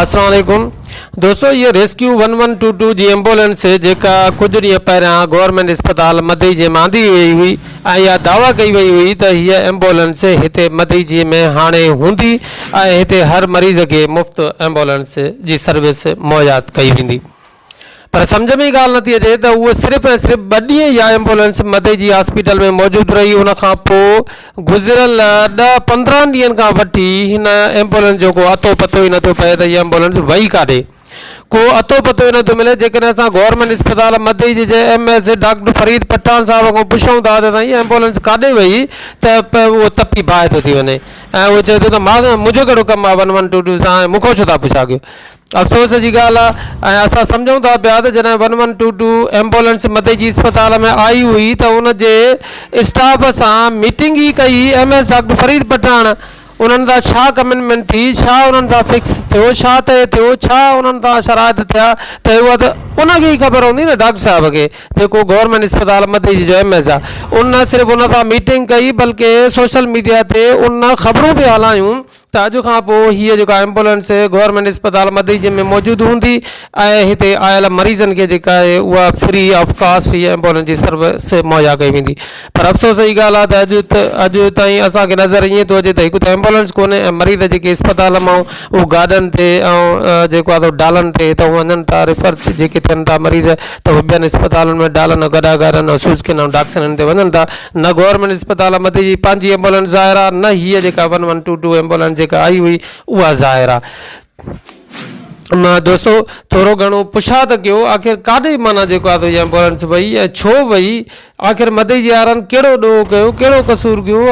السلام عليڪم دوستو هيء rescue one one two two جي ايمبولينس هي جيڪا ڪجهه ڏينهن پهريان گورنمينٽ اسپتال مدئجي مان آندي وئي هئي ۽ اها دعويٰ ڪئي وئي هئي ته هيء ايمبولينس هتي مدئجي ۾ هاڻي هوندي ۽ هتي هر مريض کي مفت ايمبولينس جي سروس مهيا ڪئي ويندي پر سمجهه ۾ ئي ڳالهه نٿي اچي ته هوء صرف ۽ صرف ٻه ڏينهن اها ايمبولينس مدئي جي هاسپيٽل ۾ موجود رهي ان کان پوء گذريل ڏهه پندرهن ڏينهن کان وٺي هن ايمبولينس جو ڪو اتو پتو ئي نٿو پئي ته هيء ايمبولينس وئي ڪاڏي ڪو اتو پتو ئي نٿو ملي جيڪڏهن اسان گورنمينٽ اسپتال مدئي جي جي M S doctor Farid Pathan صاحب کان پڇون ٿا ته سائين هيء ايمبولينس ڪاڏي وئي ته اهو تپي باهه ٿو ٿي وڃي ۽ اهو چئي ٿو ته مان منهنجو ڪهڙو ڪم آهي ون ون ٽو ٽو سان ۽ مون کان ڇو ٿا پڇا ڪيو افسوس جي ڳالهه آهي ۽ اسان سمجهون ٿا پيا ته جڏهن one one two two ambulance مدي جي اسپتال ۾ آئي هئي ته ان جي اسٽاف سان ميٽنگ ئي ڪئي M S doctor Farid Pathan انهن سان ڇا ڪمنٽمينٽ ٿي ڇا انهن سان فڪس ٿيو ڇا طئي ٿيو ڇا انهن سان شرائط ٿيا طئي هئا ته ان کي ئي خبر هوندي نه ڊاڪٽر صاحب کي جيڪو گورنمينٽ اسپتال مدي جي جو ايم ايس آهي ان نه صرف ان سان ميٽنگ ڪئي بلڪه سوشل ميڊيا تي ان خبرون به هلايون ته اڄ کان پوء هيء جيڪا ايمبولينس گورنمينٽ اسپتال مديجي ۾ موجود هوندي ۽ هتي آيل مريضن کي جيڪا آهي اها فري آف ڪاسٽ هيء ايمبولينس جي سروس مهيا ڪئي ويندي پر افسوس جي ڳالهه آهي ته اڄ اڄ تائين اسان کي نظر ائين ٿو اچي ته هڪ ته ايمبولينس ڪونهي ۽ مريض جيڪي اسپتال مان اهو گاڏن تي ۽ جيڪو آهي سو ڊالن تي هتان وڃن ٿا ريفر جيڪي ٿين ٿا مريض ته هو ٻين اسپتالن ۾ ڊالن ۽ گڏا گهرن ۽ سوزڪين ۽ ڊاڪسنن تي وڃن ٿا. نه گورنمينٽ اسپتال احمدي جي پنهنجي ايمبولينس ظاهر آ نه هيء جيڪا one one two two ambulance جيڪا آئي هئي اها ظاهر آ. معنيٰ دوستو ٿورو گهڻو پڇا ته ڪيو آخر ڪاڏي معنيٰ جيڪو آ سو ايمبولينس وئي ۽ ڇو وئي آخر مدعي جي يارن ڪهڙو ڏوهه ڪيو، ڪهڙو قصور ڪيو،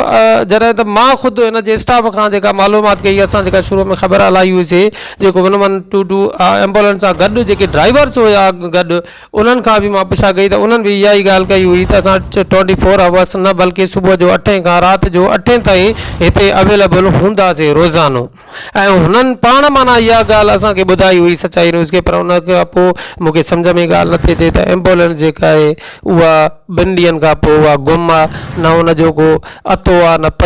جڏهن ته مان خود ان جي اسٽاف کان جيڪا معلومات ڪئي، اسان جيڪا شروع ۾ خبر هلائي هئي سي جيڪو one one two two ambulance سان گڏ جيڪي ڊرائيورس هيا گڏ انهن کان به مان پڇا ڪئي ته انهن به اها ئي ڳالهه ڪئي هئي ته اسان ٽوئنٽي فور هاورس نه بلڪه صبح جو اٺين کان رات جو اٺين تائين هتي اويليبل هونداسي روزانو ۽ هنن پاڻ معنيٰ اها ڳالهه اسان کي ٻڌائي هئي سچائي نيوز کي پر ان کان پوء مونکي سمجھ ۾ ڳالهه نٿي اچي ته ايمبولينس جيڪا آهي اها ٻن ڏينهن کان پوء اها گم آهي نه ان جو ڪو اٿو آهي نه پتو